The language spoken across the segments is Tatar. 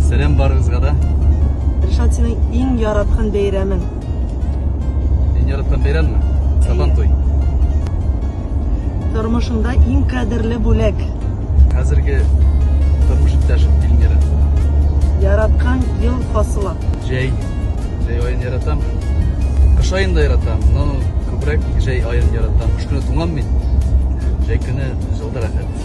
Сәлам барыгызга да. Ришат, синең иң яраткан бәйрәмең? Иң яраткан бәйрәмме? Сабан туй. Тормышыңда иң кадерле бүләк? Хәзерге тормыш иптәшем Эльмира. Яраткан ел фасылы? Җәй. Җәй аен яратам. Кыш аен да яратам, но күбрәк җәй аен яратам. Кыш көне туңам мин. Җәй көне җылдырак.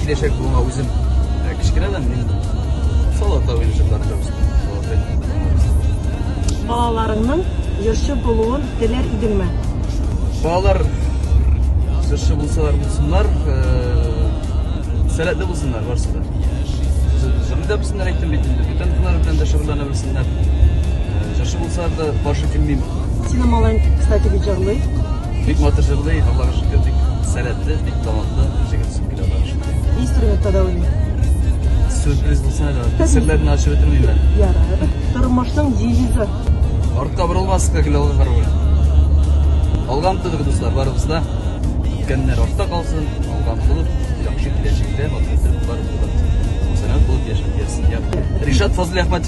Киләчәк буынга үзем ә, кечкенәдән мин Солота уенчы тартабыз. Балаларыңның җырчы булуын теләр идеңме? Балалар җырчы булсалар булсыннар, ә, сәләтле булсыннар барсы да. Җырны да белсеннәр әйттем бит инде, бүтән һөнәр белән дә шөгыльләнә белсеннәр. Ә, Җырчы булсалар да каршы килмим. Сине малаең, кстати, бит җырлый. Бик матур җырлый, Аллага шөкер, бик сәләтле, бик талантлы җегет Сөмбел Аллага шөкер. Инструментта да уйный. Сюрприз булсын әле. Серләрне ачып бетермим әле. Ярар. Тормышның девизы. Артка борылмаска гел алга карау. Алга омтылык, дуслар, барыбыз да. Үткәннәр артта калсын, алга омтылып, яхшы киләчәктә матур булып, сәләмәт булып яшәп ясен. Ришат Фазлый Ахматов